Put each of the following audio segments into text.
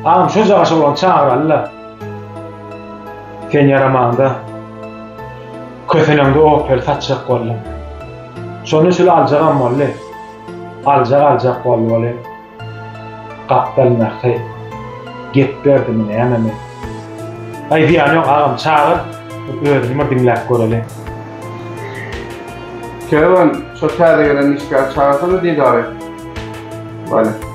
Agam şu jagaş oglan çagyralda. Sen ýaramaňda. Köseneňde opel saçjak boldum. Şony şul aljagam boldy. Aljak aljak boldy bolý. Gapdal mähri. Gep berdimi nämemi. Aý zyýany ýok agam çagyr. Özüni bir diňläp göreli. Kerwen şo täze gelen işgäri çagyrsana didary. Bale.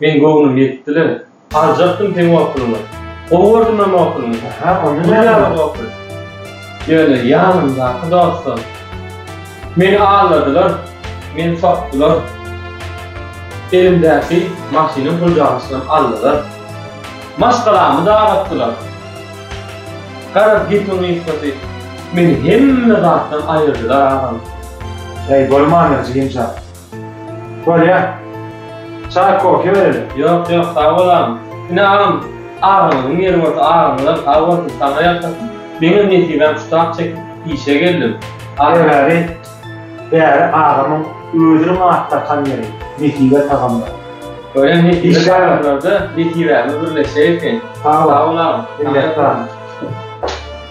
Meň göwnüm ýetdi-le. Aljakdym seň okulyňy. Gowy gördüm hem okulyňy. Aha, onda näme? Gül ýaly okul. Ýöne ýanymdaky dostlar meni aldadylar, meni sokdular. Elimdäki maşynyň gurjagyçysyny aldylar. Maşgalamy dargatdylar. Garaz, gepiň gysgasy, meni hemme zatdan aýyrdylar agam. Äý, bolmandyr, jigimjan. Bolýar. Çaý, kofe berelim. Ýok, ýok, sag bol agam. Ine, agam, agzyňyzyň ýeri bolsa, agzyňyzam sag bolsun, saňa ýalkasyn. Meňem nesibäm şu tak çekip, işe geldim. Aýry-gaýry bäri agamyň özüniň at dakan ýeri, Nesibe tagamlar. Bolýar, Nesibe tagamlarda nesibämiz birleşjek eken. Sag bol, agam. Minnetdar.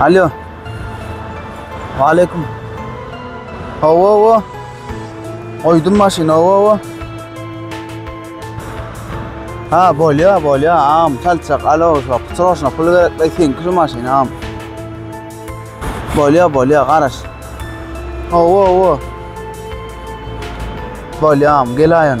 Alo. Aleyküm. Hava hava. Oydum maşin hava hava. Ha bolya bolya am çalçak alo şu kutroşna pul gerek ve sen kuru maşin am. Bolya bolya garaş. Hava hava. Bolya am gel ayın.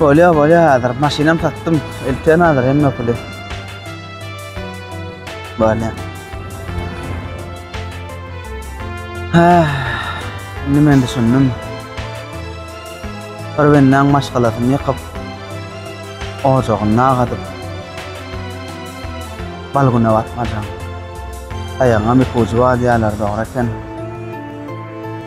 Bolýa bolýa hazır maşynam satdym. Elten hazır hemme puly. Bolýa. Ha. Indi men düşündim. Bir bennaň maşgalasyny ýykyp, ojagyny agadyp, bal güne batmajam. Aýagyňam iki ujy bar diýýärler, dogry eken.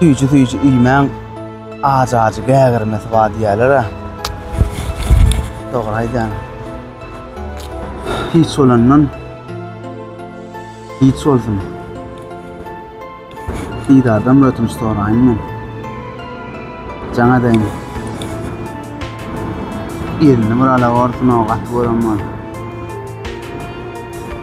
Süýji süýji iýmäň, ajy-ajy gägirmesi bar diýýäler-ä. Dogry aýdýan. Hiç bolandan hiç bolsun. Didardan ötünç soraýyn men. Jaň edeýin. Elini bir ala borsun o gaty gören bol.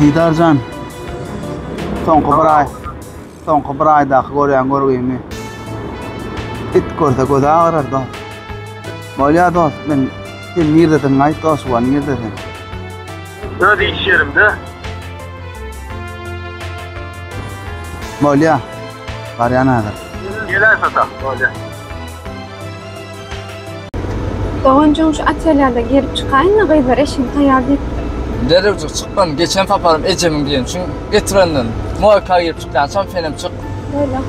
Didar jan. Soňky bir aý. Soňky bir aýdaky görýän görgimi. It görse gözi agyrar da. Bolýar dost, men sen nirdediň aýt dost, wa nirde sen? Öz iş ýerimde. Bolýar. Barýan häzir. Geläýsata, bolýar. Doganjygyň şu otelýada girip çykaýyna gyzlar eşigi taýýar diýipdir. Derrewjik çykman geçen saparym ejemiň diýen üçin getirenden moýka girip çykýançam senem çyk. Boýla.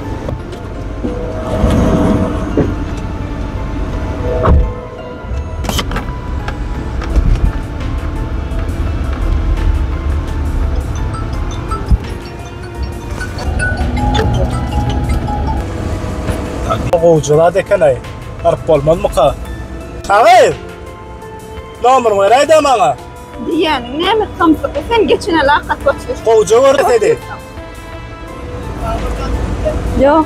Gowja zat eken-aý. Baryp bolmazmyka? Agyz! Nomeryňy beräý-dä maňa. Diýýäniň näme samsyk? Sen geçene lakat goçuş. Gowja gördi seni. Ýok.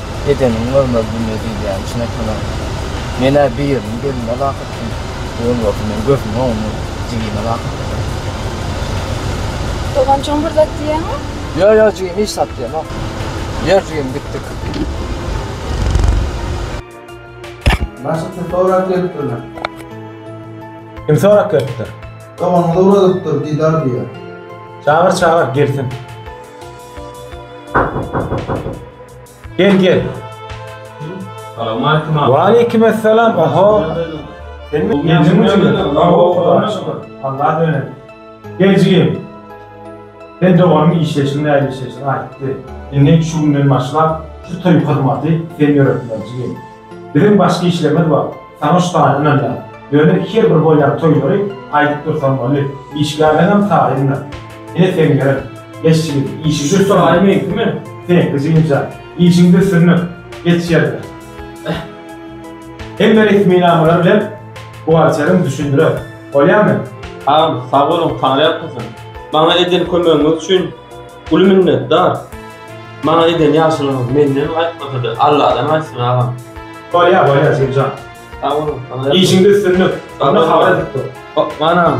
Edeniň görmez dünýe diýilýän çyn ekenok. Men-ä birini gelime lak etdim. Ol bolsa meni gözümiň öňünde jigime lak etdi. Doganjygym bir zat diýýäňmi? Ýo, ýo jigim hiç zat diýemok. Ýör jigim gitdik. Başga kim sorap gelipdirler? Kim sorap gelipdir? Doganyňyzy ugradypdyr, didar diýer. Çagyr, çagyr, gelsin. Gel gel. Salamaleýkum abi. Waleýkim assalam. Oho. Sen mi? Sen mi? Allah döne. Gel jigim. Sen doganyň işleşiň näle işleşiň aýtdy. Indi şu günden başlap şu toý hyzmaty sen ýöretmeli jigim. Biziň başga işlerimiz bar. Tanyş bar ynanýan. Ýöne her bir bolýan toýlary aýdyp dursaň boldy. Işgärleňem taýyndyr. Ine seňňerim. Bes ýigit, işiňde Şu soraý meňkimi? Seňki jynja. Işiňde sürnük. Geç ýerine. Hemme resminamalar bilen buhgalteriň düşündirer. Bolýamy? Agam, sag boluň, Tany ýatlasyn. Maňa eden kömegiňiz üçin. Uly minnetdar. Maňa eden ýagşylygyňyz menden gaýtmasady, Alladan gaýtsyn agam. Bolýar, bolýar Jemjan. Sag boluň. Işiňde üstünlik. Onda habar edip dur. Hop, manam.